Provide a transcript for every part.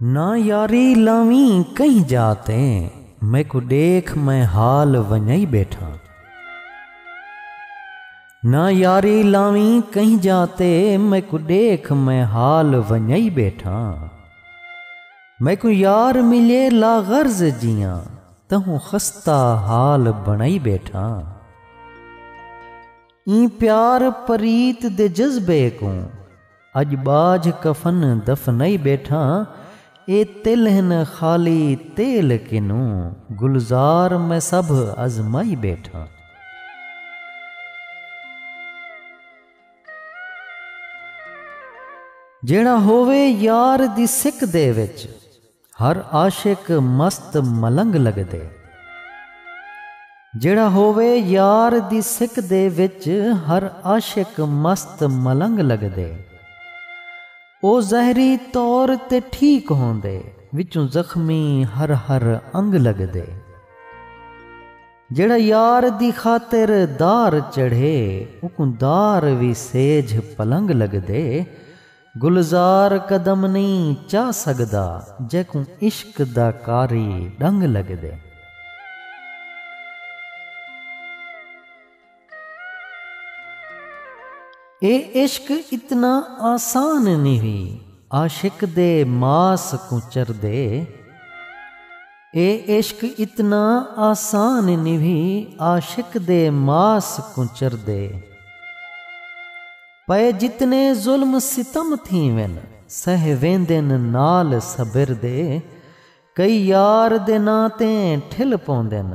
نہ یاری لاویں کہیں جا تے میکوں ڈیکھ میں حال ونجائی بیٹھاں نہ یاری لاویں کہیں جا تے میکوں ڈیکھ میں حال ونجائی بیٹھاں میکوں یار ملے لا غرض جیاں تہوں خستہ حال بنائی بیٹھاں ایں پیار پریت دے جذبے کوں اڄ ٻاجھ کفن دفنائی ٻیٹھاں اے تل ہن خالی تیل کنوں گلزار میں سبھ ازمائی ٻیٹھاں۔ جیڑھا ہووے یار دی سک دے وچ۔ ہر عاشق مست ملنگ لگدے۔ جیڑھا ہووے یار دی سک دے وچ ہر عاشق مست ملنگ لگدے۔ او ظاہری طور تے ٹھیک ہوندے وچوں زخمی ہر ہر انگ لگدے۔ جیڑھا یار دی خاطر دار چڑھے اوکوں دار وی سیجھ پلنگ لگدے۔ گلزار قدم نئیں چا سڳدا جیکوں عشق دا قاری ݙنگ لڳدے۔ اے عشق اتنا آسان نہوی عاشق دے ماس کوں چردے۔ اے عشق اتنا آسان نہوی عاشق دے ماس کوں چردے۔ پئے جتنے ظلم ستم تھیون سہ ویندن نال صبر دے کئی یار دے ناں تے ٹھل پوندن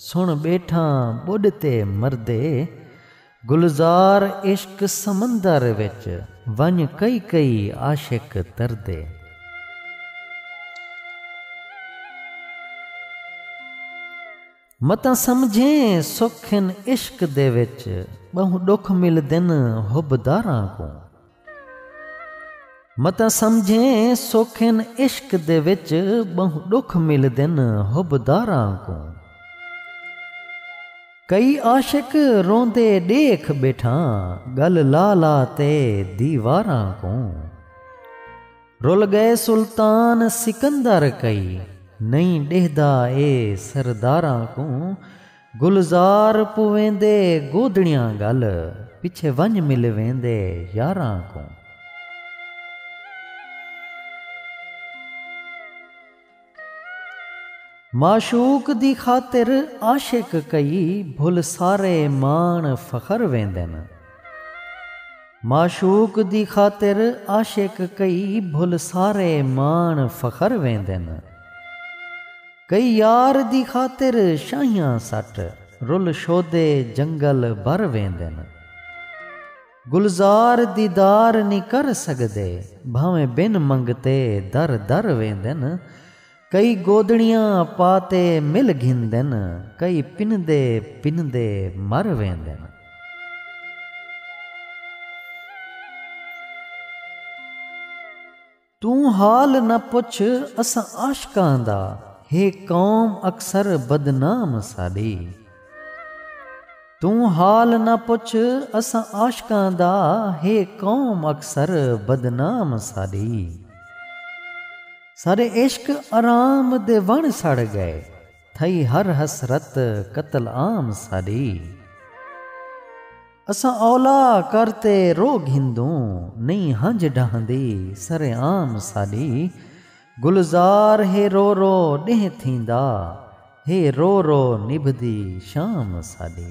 سن ٻیٹھاں ٻݙ تے مردے گلزار عشق سمندر وچ ونڄ کئی کئی عاشق تردے۔ متاں سمجھیں سکھ ہن عشق دے وچ ٻہوں ݙکھ ملدن حب داراں کوں۔ متاں سمجھیں سکھ ہن عشق دے وچ ٻہوں ݙکھ ملدن حب داراں کوں۔ کئی عاشق روندے ݙیکھ ٻیٹھاں ڳل لا لا تے دیواراں کوں۔ رل ڳئے سلطان سکندر کئی نئیں ݙیہدا اے سرداراں کوں گلزار پویندے گودڑیاں ڳل پچھے ونڄ مل ویندے یاراں کوں۔ معشوق دی خاطر عاشق کئی بھل سارے ماݨ فخر ویندن۔ معشوق دی خاطر عاشق کئی بھل سارے ماݨ فخر ویندن۔ کئی یار دی خاطر شاہیاں سٹ رل شودے جنگل بھر ویندن۔ گلزار دیدار نی کر سگدے بھانویں بن منگتے در در ویندن کئی گودڑیاں پاتے مل گھندن کئی پندے پندے مر ویندن۔ توں حال نہ پچھ اساں عاشقاں دا ہے قوم اکثر بدنام ساݙی توں حال نہ پچھ اساں عاشقاں دا ہے قوم اکثر بدنام ساݙی ساݙے عشق آرام دے وݨ سڑ ڳئے تھئی ہر حسرت قتل عام ساݙی۔ اساں اولا کر تے رو گھندوں نئیں ہنج ڈہندی سر عام ساڈی گلزار ہے رو رو ڈینہہ تھیندا ہے رو رو نبھدی شام ساڈی۔